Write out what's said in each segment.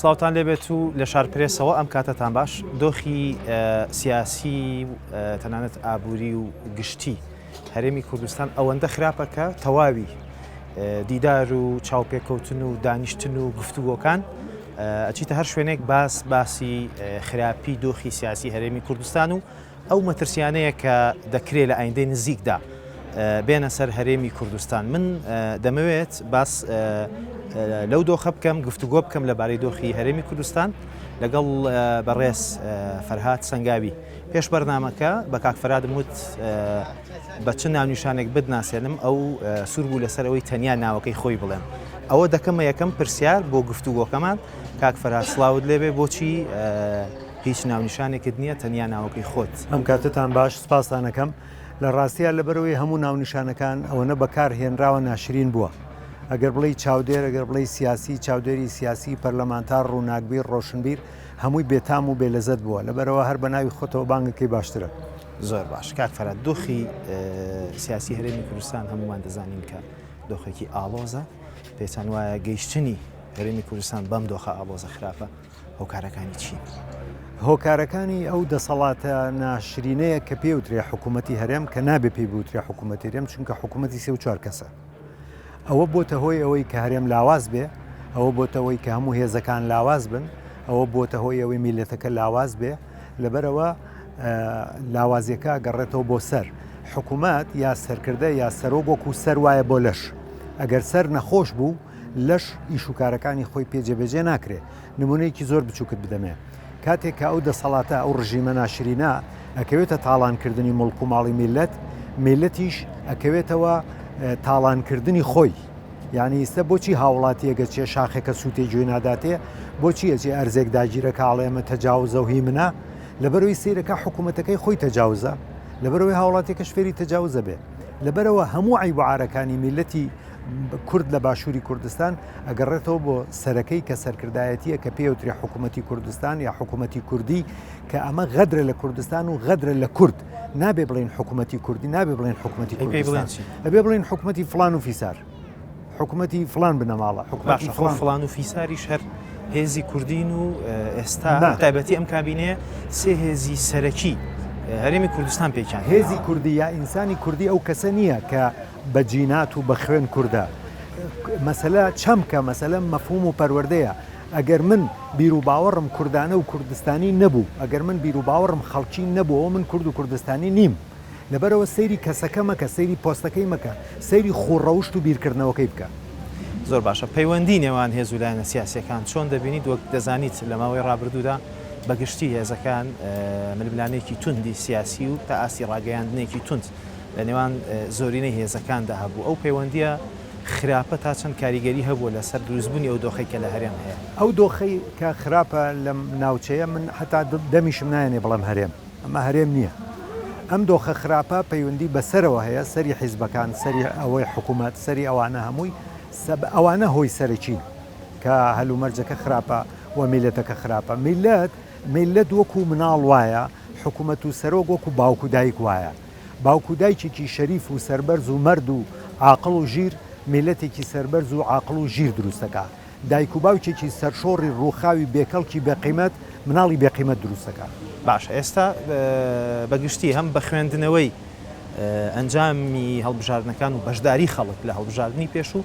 سڵاوتان لێبێت و لە شارپرێسەوە ئەم کاتەتان باش دۆخی سیاسی و تەنانەت ئابووری و گشتی هەرێمی کوردستان ئەوەندە خراپە کە تەواوی دیدار و چاوپێکەوتن و دانیشتن و گفتوگۆکان ئەچیتە هەر شوێنێک باس باسی خراپی دۆخی سیاسی هەرێمی کوردستان و ئەو مەترسیانەیە کە دەکرێت لە ئایندەی نزیکدا بێنە سەر هەرێمی کوردستان من دەمەوێت باس لەو دۆخە بکەم گفتوگۆ بکەم لەبارەی دۆخی هەرێمی کوردستان لەگەڵ بەڕێز فەرهاد سنگاوی پێش بەرنمەکە بە کاکفرادم وت بە چ ناونیشانێک بدناسێنم ئەو سوور بوو لەسەر ئەوەی تەنیا ناوەکەی خۆی بڵێن ئەوە دەکەمە یەکەم پرسیار بۆ گفتوگۆکەمان کاکفراد سلااوت لێبێ بۆچی هیچ ناونیشانێکت نیە تەنیا ناوەکەی خۆت. ئەم کاتەتان باش سپاستان ئەکەم. لە ڕاستیا لەبەرئەوەی هەموو ناونیشانەکان ئەوەنە بەکار هێنراوە ناشرین بووە. ئەگەر بڵێی چاودێر ئەگەر بڵێی سیاسی، چاودێری سیاسی، پەرلەمانتار، ڕووناکبیر، ڕۆشنبیر، هەمووی بێتام و بێ لەزەت بووە. لەبەرئەوە هەر بە ناوی خۆتەوە بانگەکەی باشترە. زۆر باش کاک فەرات دۆخی سیاسی هەرێمی کوردستان هەموومان دەزانین کە دۆخێکی ئاڵۆزە پێتان وایە گەیشتنی هەرێمی کوردستان بەم دۆخە ئاڵۆزە خراپە هۆکارەکانی چین؟ هۆکارەکانی ئەو دەسەڵاتە ناشرینەیە کە پێوترێ حکوومەتتی هەرێم کە نابێ پێی بوترێ حکوومەتتی هەرێم چونکە حکوومەتتی سێ و چوار کەسە ئەوە بۆتە هۆی ئەوەی کە هەرێم لاواز بێ ئەوە بۆتەوەی کە هەموو هێزەکان لاواز بن ئەوە بۆتە هۆی ئەوەی میلەتەکە لاواز بێ لەبەرەوە لاوازیەکە گەڕێتەوە بۆ سەر حکوومەت یا سەرکردە یا سەرۆک وەکو سەر وایە بۆ لەش ئەگەر سەر نەخۆش بوو لەش ئیش و کارەکانی خۆی پێ جێبەجێ ناکرێ. نموونەیەکی زۆر بچووکت بدەمێ. کاتێک کە ئەو دەسەڵاتە، ئەو ڕژیمە ناشرینە ئەکەوێتە تاڵانکردنی موڵک و ماڵی میللەت، میللەتیش ئەکەوێتەوە تاڵانکردنی خۆی. یانی ئیستە بۆچی هاوڵاتییەک ئەچێ شاخێکە سووتێ گوێی ناداتێ؟ بۆچی ئەچێ ئەرزێک داگیرە کە ئەڵێ ئەمە تەجاوزە و هی منە؟ لەبەرەوەی سەیرەکە حکوومەتەکەی خۆی تەجاوزە، لەبەرەوەی هاوڵاتییەکەش فێری تەجاوزە بێ. لەبەرەوە هەموو عەیب و عارەکانی میللەتی کورد لە باشووری کوردستان ئەگەڕێتەوە بۆ سەرەکەی کە سەرکردایەتیە کە پێوترێ حکوومەتتی کوردستان یا حکوومەتتی کوردی کە ئەمە غەدرە لە کوردستان و غەدرە لە کورد نابێ بڵین حکوومەتتی کوردی نابێ بڵین حکوومەتتی کوردستان ئەبێ بڵین حکوومەتتی فلان و فیسار حکوومەتتی فلان بنەماڵە حکوومەتتی فلان فلان و فیساری شەر هێزی کوردین و ئێستا تایبەتی ئەم کابینێ سێ هێزی سەرەکی هەرێمی کوردستان پێکیان هێزی کوردی یا ئینسانی کوردی ئەو کەسە نییە کە بە جینات و بە خوێن کوردە. مەسەلە چەمکە، مەسەلە مەفهووم و پەروەردەیە. ئەگەر من بیروباوەڕم کوردانە و کوردستانی نەبوو، ئەگەر من بیروباوەڕم خەڵکی نەبوو، ئەوە من کورد و کوردستانی نیم. لەبەرئەوە سەیری کەسەکە مەکە، سەیری پۆستەکەی مەکە، سەیری خوو ڕەوشت و بیرکردنەوەکەی بکە. زۆر باشە. پەیوەندی نێوان هێز و لایەنە سیاسییەکان چۆن دەبینیت؟ وەک دەزانیت لە ماوەی ڕابردوودا بە گشتی هێزەکان ململانێکی توندی سیاسی و تا ئاستی ڕاگەیاندنێکی توند لە نێوان زۆرینەی هێزەکاندا هەبوو، ئەو پەیوەندییە خراپە تا چەند کاریگەری هەبووە لەسەر دروستبوونی ئەو دۆخەی کە لە هەرێم هەیە؟ ئەو دۆخەی کە خراپە لەم ناوچەیە من حەتا دەمیشم نایەنێ بڵێم هەرێم، ئەمە هەرێم نییە، ئەم دۆخە خراپە پەیوەندی بە سەرەوە هەیە، سەری حیزبەکان، سەری ئەوەی حکوومەت، سەری ئەوانە هەمووی، ئەوانە هۆی سەرەکین کە هەلومەرجەکە خراپە و میللەتەکە خراپە. میللەت وەکوو مناڵ وایە. حکومەت و سەرۆک وەکو باوک و دایک وایە باوک و دایکێکی شەریف و سەربەرز و مەرد و عاقڵ و ژیر میلەتێکی سەربەرز و عاقڵ و ژیر دروست دەکا دایک و باوکێکی سەرشۆڕی ڕووخاوی بێکەڵکی بێ قیمەت مناڵی بێ قیمەت دروست دەکا. باشە ئێستا بە گشتی هەم بە خوێندنەوەی ئەنجامی هەڵبژاردنەکان و بەشداری خەڵک لە هەڵبژاردنی پێشوو،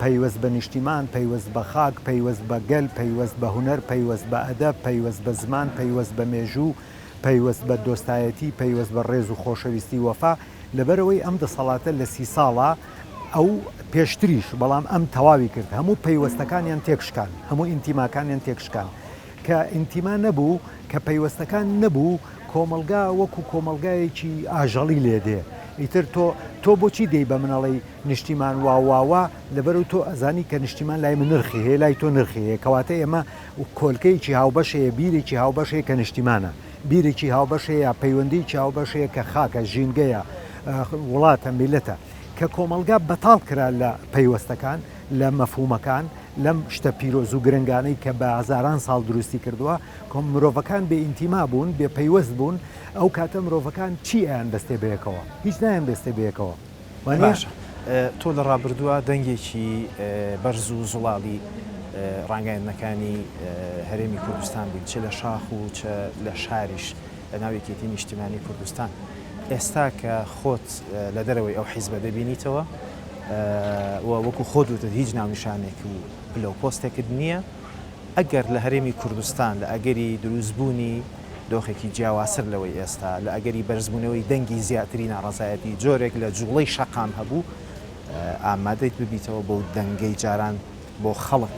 پەیوەست بە نیشتیمان، پەیوەست بە خاک، پەیوەست بە گەل، پەیوەست بە هونەر، پەیوەست بە ئەدەب، پەیوەست بە زمان، پەیوەست بە مێژوو، پەیوەست بە دۆستایەتی، پەیوەست بە ڕێز و خۆشەویستی وەفا، لەبەرئەوەی ئەم دەسەڵاتە لە سی ساڵە ئەو پێشتریش بەڵام ئەم تەواوی کرد هەموو پەیوەستەکانیان تێکشکان هەموو ئینتیماکانیان تێکشکان. کە ئینتیما نەبوو، کە پەیوەستەکان نەبوو، کۆمەڵگا وەکو کۆمەڵگایەکی ئاژەڵی لێ دێ. ئیتر تۆ، تۆ بۆچی دێی بە من ئەڵێی نیشتیمان وا وا وا، لەبەرو تۆ ئەزانی کە نیشتیمان لای من نرخی هەیە، لای تۆ نرخی هەیە، کەواتە ئێمە کۆلکەیەکی هاوبەش هەیە، بیرێکی هاوبەش هەیە کە نیشتیمانە، بیرێکی هاوبەش هەیە، پەیوەندیەکی هاوبەش هەیە کە خاکە، ژینگەیە، وڵاتە، میللەتە. کە کۆمەڵگا بەتاڵ کرا لە پەیوەستەکان، لە مەفهوومەکان، لەم شتە پیرۆز و گرنگانەی کە بە هەزاران ساڵ دروستی کردووە، مرۆڤەکان بێ ئینتیما بوون، بێ پەیوەست بوون، ئەو کاتە مرۆڤەکان چی ئەیانبەستێ بەیەکەوە؟ هیچ نایانبەستێ بەیەکەوە. وانییە؟ باشە، تۆ لە ڕابردووە دەنگێکی بەرز و زوڵاڵی ڕاگەیاندنەکانی هەرێمی کوردستان بووی، چ لە شاخ و چ لە شاریش، بە ناو یەکێتی نیشتیمانی کوردستان ئێستا کە خۆت لە دەرەوەی ئەو حیزبە دەبینیتەوە و وەکو خۆت وتت هیچ ناونیشانێک و پلە و پۆستێکت نییە ئەگەر لە هەرێمی کوردستان لە ئەگەری دروستبوونی دۆخێکی جیاوازتر لەوەی ئێستا لە ئەگەری بەرزبوونەوەی دەنگی زیاتری ناڕەزایەتی جۆرێک لە جووڵەی شەقام هەبوو ئامادەیت ببیتەوە بەو دەنگەی جاران بۆ خەڵک.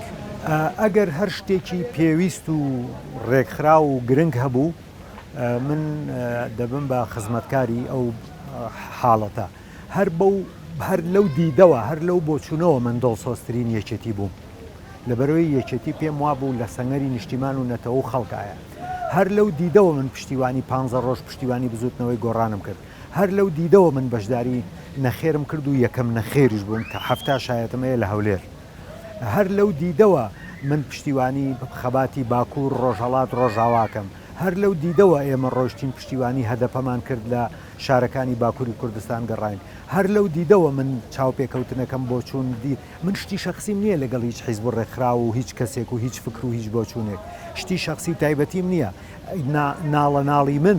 ئەگەر هەر شتێکی پێویست و رێکخراو و گرنگ هەبوو من دەبم بە خزمەتکاری ئەو حاڵەتە. هەر بەو هەر لەو دیدەوە هەر لەو بۆچوونەوە من دڵسۆزترین یەکێتی بووم. لەبەرئەوەی یەکێتی پێم وابوو لە سەنگەری نیشتیمان و نەتەوە و خەڵکایە. هەر لەو دیدەوە من پشتیوانی پانزە رۆژ پشتیوانی بزووتنەوەی گۆڕانم کرد. هەر لەو دیدەوە من بەشداری نەخێرم کرد و یەکەم نەخێریش بووم کە حەفتا شایەتم هەیە لە هەولێر. هەر لەو دیدەوە من پشتیوانی خەباتی باکوور، ڕۆژهەڵات، ڕۆژاواکەم. هەر لەو دیدەوە ئێمە ڕۆیشتین پشتیوانی هەدەپەمان کرد لە شارەکانی باکووری کوردستان گەڕاین. هەر لەو دیدەوە من چاوپێکەوتنەکەم بۆچوون دی. من شتی شەخسیم نییە لەگەڵ هیچ حیزب و ڕێکخراو و هیچ کەسێک و هیچ فکر و هیچ بۆچوونێک. شتی شەخسی و تایبەتیم نییە. ناڵەناڵی من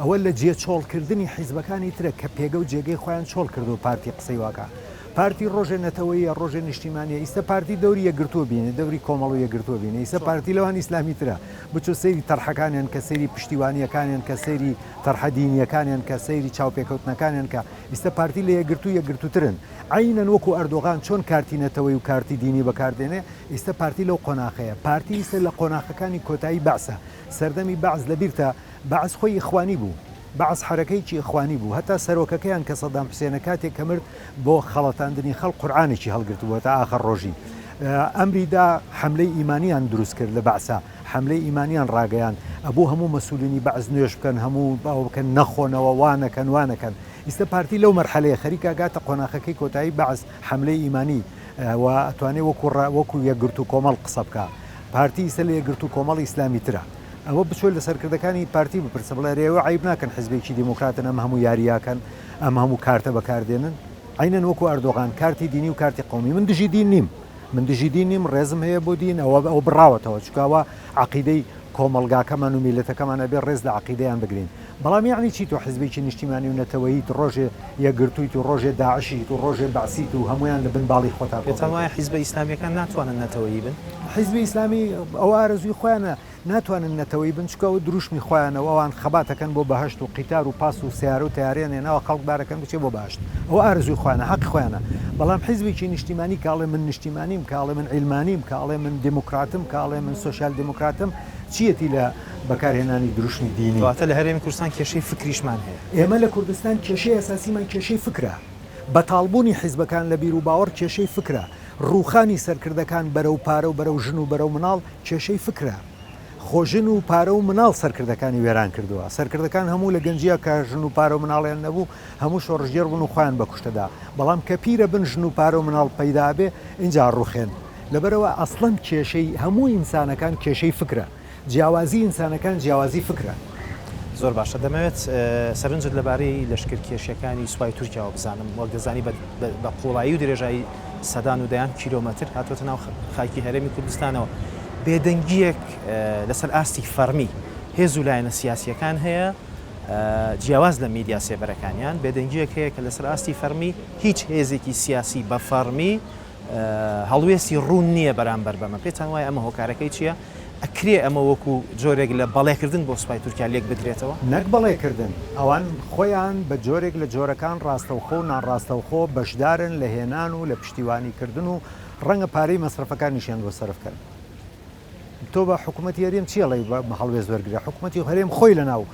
ئەوە لە جێ چۆڵ کردنی حیزبەکانی ترە کە پێگە و جێگەی خۆیان چۆڵ کردوە پارتی قسەی واکا پارتی ڕۆژێ نەتەوەیە ڕۆژێ نیشتیمانیە ئیستە پارتی دەوری یەکگرتوە بینێ دەوری کۆمەڵ و یەکگرتوە بینێ ئیسە پارتی لەوان ئیسلامی ترە بچۆ سەیری تەرحەکانیان کە سەیری پشتیوانیەکانیان کە سەیری تەرحە دینیەکانیان کە سەیری چاوپێکەوتنەکانیان کە ئیستە پارتی لە یەکگرتو یەکگرتوترن عەینەن وەکو ئەردۆغان چۆن کارتی نەتەوەی و کارتی دینی بەکار دێنێ ئیستە پارتی لەو قۆناخەیە پارتی ئیستە لە قۆناخەکانی کۆتایی بەعسە سەردەمی بەعس لەبیرتە بەعس خۆی ئیخوانی بوو بەعس حەرەکەیەکی ئیخوانی بوو هەتا سەرۆکەکەیان کە سەدام حوسێنە کاتێک کە مرد بۆ خەڵەتاندنی خەڵک قورعانێکی هەڵگرتبوو تا ئاخر ڕۆژی ئەمری دا حەملەی ئیمانیان دروست کرد لە بەعسا حەملەی ئیمانیان ڕاگەیاند ئەبوو هەموو مەسولینی بەعس نوێژ بکەن هەموو باوە بکەن نەخۆنەوە وا نەکەن وا نەکەن ئیستە پارتی لەو مەرحەلەیە خەریکە گاتە قۆناخەکەی کۆتایی بەعس حەملەی ئیمانی و ئەتوانێ وەکو ڕا وەکو یەکگرتوو کۆمەڵ قسە بکا پارتی ئیستە لە یەکگرتوو کۆمەڵ ئیسلامی ترە ئەوە بچۆ لە سەرکردەکانی پارتی بپرسە بڵێ ئەرێ ئەوە عەیب ناکەن حزبێکی دیموکراتن ئەم هەموو یاریاکەن ئەم هەموو کارتە بەکاردێنن عینەن وەکو ئەردۆغان کارتی دینی و کارتی قومی من دژی دین نیم من دژی دین نیم ڕێزم هەیە بۆ دین ئەوە ئەو بڕاوەتەوە چکاوە عقیدەی کۆمەڵگاکەمان و میلەتەکەمان ئەبێ ڕێز لە عقیدەیان بگرین بەڵام یەعنی چی تۆ حیزبێکی نیشتیمانی و نەتەوەییت ڕۆژێ یەکگرتوویت و ڕۆژێ داعشیت و ڕۆژێ بەعسیت و هەموویان لە بن باڵی خۆتا کۆ پێتان وایە حیزبە ئیسلامیەکان ناتوانن نەتەوەیی بن؟ حیزبی ئیسلامی ئەوە ئارەزووی خۆیانە ناتوانن نەتەوەیی بن چونکە ئەوە دروشمی خۆیانە و ئەوان خەبات ئەکەن بۆ بەهەشت و قیتار و پاس و سەیارە و تەیارەیان هێناوە خەڵک بار ئەکەن بچێ بۆ بەهەشت ئەوە ئارەزووی خۆیانە حەقی خۆیانە بەڵام حیزبێکی نیشتیمانی کە ئەڵێ من نیشتیمانیم کە ئەڵێ من عیلمانیم کە ئەڵێ من دێموکراتم کە ئەڵێ من سۆسیال دێموکراتم چیەتی لە بەکارهێنانی دروشمی دینی. واتە لە هەرێمی کوردستان کێشەی فکریشمان هەیە. ئێمە لە کوردستان کێشەی ئەساسیمان کێشەی فکرە. بەتاڵبوونی حیزبەکان لە بیروباوەڕ کێشەی فکرە. ڕووخانی سەرکردەکان بەرەو پارە و بەرەو ژن و بەرەو مناڵ کێشەی فکرە. خۆ ژن و پارە و مناڵ سەرکردەکانی وێران کردووە. سەرکردەکان هەموو لە گەنجییە کە ژن و پارە و مناڵیان نەبوو هەموو شۆڕشگێڕ بوون و خۆیان بە کوشتە دا. بەڵام کە پیرە بن ژن و پارە و مناڵ پەیدا ئەبێ ئینجا ڕووخێن. لەبەرئەوە ئەسڵەن کێشەی هەموو ئینسانەکان کێشەی فکرە. جیاوازی ئینسانەکان جیاوازی فکرە. زۆر باشە دەمەوێت سەرنجت لەبارەی لەشکرکێشیەکانی سوپای تورکیاوە بزانم، وەک دەزانی بە قوڵایی و درێژایی سەدان و دەیان کیلۆمەتر هاتووەتە ناو خاکی هەرێمی کوردستانەوە، بێدەنگیەک لەسەر ئاستی فەڕمی هێز و لایەنە سیاسیەکان هەیە جیاواز لە میدیا سێبەرەکانیان، بێدەنگیەک هەیە کە لەسەر ئاستی فەڕمی هیچ هێزێکی سیاسی بە فەڕمی، هەڵوێستی ڕوون نییە بەرامبەر بەمە، پێتان وایە ئەمە هۆکارەکەی چییە؟ ئەکرێ ئەمە وەکو جۆرێک لە بەڵێکردن بۆ سوپای تورکیا لێکبدرێتەوە؟ نەک بەڵێکردن، ئەوان خۆیان بە جۆرێک لە جۆرەکان ڕاستەوخۆ و ناڕاستەوخۆ بەشدارن لە هێنان و لە پشتیوانیکردن و ڕەنگە پارەی مەسرەفەکانیشیان بۆ سەرف کەن. تۆ بە حکومەتی هەرێم چی ئەڵێی بە هەڵوێست وەرگرە، حکومەتی هەرێم خۆی لەناو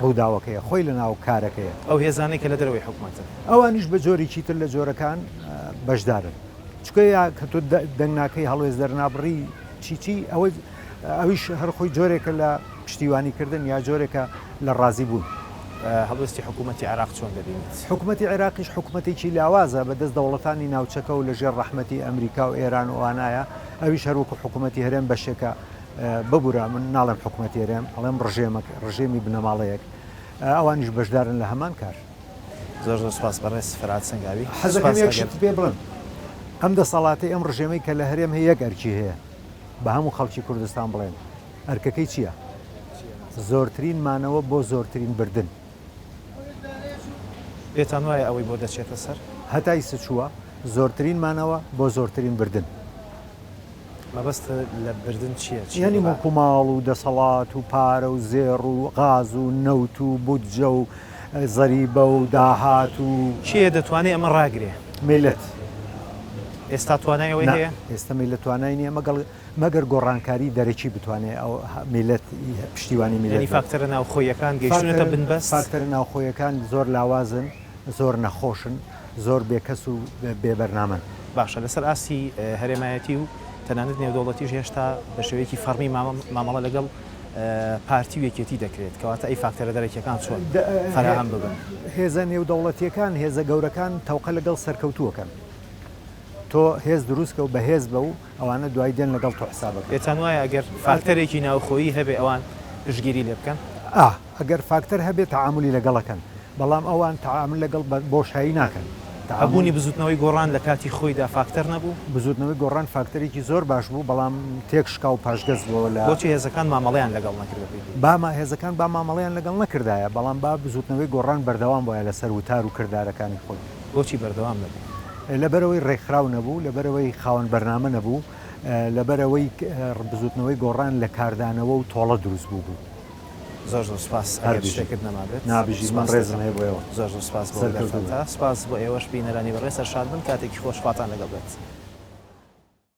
ڕووداوەکەیە، خۆی لەناو کارەکەیە، ئەو هێزانەی کە لە دەرەوەی حکومەتن ئەوانیش بە جۆرێکی تر لە جۆرەکان بەشدارن، چونکە یا کە تۆ دەنگ ناکەی هەڵوێست دەرنابڕی چی چی ئەوەی ئەویش هەر خۆی جۆرێکە لە پشتیوانیکردن یا جۆرێکە لە ڕازی بوون. هەڵوێستی حکوومەتی عێراق چۆن دەبینیت؟ حکوومەتی عێراقیش حکوومەتێکی لاوازە بەدەست دەوڵەتانی ناوچەکە و لەژێر ڕەحمەتی ئەمریکا و ئێران و ئەوانایە، ئەویش هەر وەکو حکوومەتی هەرێم بەشێکە ببوورە من ناڵێم حکوومەتی هەرێم ئەڵێم ڕژێمەک ڕژێمی بنەماڵەیەک ئەوانیش بەشدارن لە هەمان کار. زۆر زۆر سوپاس بەڕێز فرات سەنگاوی. حەزەکەم یەک شت پێ بڵێم. ئەم دەسەڵاتەی ئەم ڕژێمەی کە لە هەرێم هەیە یەک ئەرکی هەیە بە هەموو خەڵکی کوردستان بڵێن ئەرکەکەی چییە؟ زۆرترین مانەوە بۆ زۆرترین بردن. پێتان وایە ئەوەی بۆ دەچێتە سەر؟ هەتای سچووە، زۆرترین مانەوە بۆ زۆرترین بردن. مەبەست لە بردن چییە؟ یانی موڵک و ماڵ و دەسەڵات و پارە و زێڕ و غاز و نەوت و بودجە و زەریبە و داهات و. کێ دەتوانێ ئەمە ڕاگرێ؟ میللەت. ئێستا توانای ئەوەی هەیە؟ ئێستا میللەت توانای نییە مەگەڵ. مەگەر گۆڕانکاری دەرەکی بتوانێت ئەو میللەت پشتیوانی میللەت بێت. یانی فاکتەرە ناوخۆیەکان گەیشتوونەتە بنبەست؟ فاکتەرە ناوخۆیەکان زۆر لاوازن، زۆر نەخۆشن، زۆر بێکەس و بێ بەرنامەن. باشە لەسەر ئاستی هەرێمایەتی و تەنانەت نێودەوڵەتیش هێشتا بە شێوەیەکی فەڕمی مامەڵە لەگەڵ پارتی و یەکێتی دەکرێت، کەواتە ئەی فاکتەرە دەرەکیەکان چۆن فەراهەم ببن؟ هێزە نێودەوڵەتیەکان، هێزە گەورەکان تەوقە لەگەڵ سەرکەوتووەکەن. تۆ هێز دروست کە و بەهێز بە و ئەوانە دوای دێن لەگەڵ تۆ حساب ئەکەن. پێتان وایە ئەگەر فاکتەرێکی ناوخۆیی هەبێ ئەوان پشتگیری لێ بکەن؟ ئا ئەگەر فاکتەر هەبێ تەعامولی لەگەڵ ئەکەن بەڵام ئەوان تەعامول لەگەڵ بە بۆشایی ناکەن. هەبوونی بزووتنەوەی گۆڕان لە کاتی خۆیدا فاکتەر نەبوو؟ بزووتنەوەی گۆڕان فاکتەرێکی زۆر باش بوو بەڵام تێک شکا و پاشگەز بووەوە لە. بۆچی هێزەکان مامەڵەیان لەگەڵ نەکرد بە پێی پێی؟ با ما هێزەکان با مامەڵەیان لەگەڵ نەکردایە بەڵام با بزووتنەوەی گۆڕان بەردەوام بوایە لە سەر وتار و کردارەکانی خۆی. بۆچی بەردەوام نەبوو؟ لەبەرئەوەی رێکخراو نەبوو، لەبەرئەوەی خاوەن بەرنامە نەبوو، لەبەرئەوەی بزوتنەوەی گۆڕان لە کاردانەوە و تۆڵە دروست بووبوو. زۆر زۆر سوپاس ئەگەر شتێکت نەمابێت نابژیت من ڕێزم هەیە بۆ ئێوە زۆر زۆر سوپاس بۆ وەلاتانتا سوپاس بۆ ئێوەش بینەرانی بەڕێز سەرشاد بن کاتێکی خۆش خواتان لەگەڵ بێت.